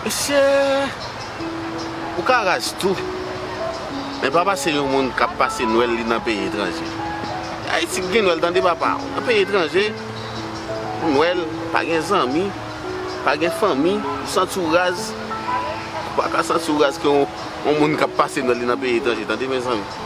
Mesye ou ka raz tou men papa se yon moun kap pase nwèl li nan peyi etranje ayiti ki gen nwèl tande papa ou nan peyi etranje pou nwèl pa gen zanmi pa gen fanmi ou santi ou raz ou pa ka santi ou raz ke yon moun kap pase nwèl li nan peyi etranje tande mezanmi.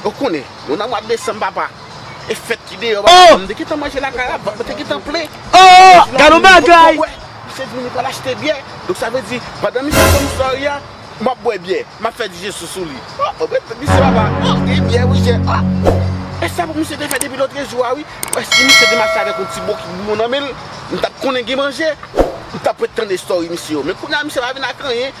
Ou konnen, nou nan mwa desanm papa, e fèt ki deyò papa, m te gentan manje lakay la, vant mwen te gentan plen, mwen te vin achte bòt pou bwè, misye di m li pral achte byè, donk sa vle di pandan misye ap ban m flari a, m ap bwè byè, m ap fè dijesyon sou li, oh, mwen mèt fè misye papa, oh, gen byè wi chè, oh, e sa pou misye te fè depi lotrejou a wi, wè si misye te mache avèk yon ti bon kik boumbon nan men l, m t ap konnen gen manje, m t ap ret tande story misye yo, men kounye a misye pa vin ak anyen,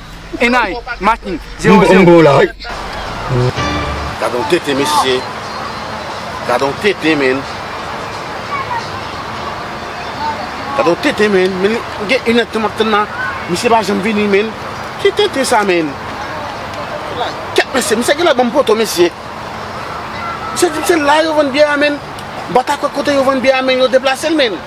Enay, Martin, 0, 0. Gadon tete mesye Gadon tete men Gadon tete men Men gen yon nèt mwen ten nan Misye pa janm vini men Ki tete sa men Kèt mesye Misye gen lè banm poto mesye Misye di m se la yo vann byè a men Batakòt kote yo vann byè a men Yo deplase l men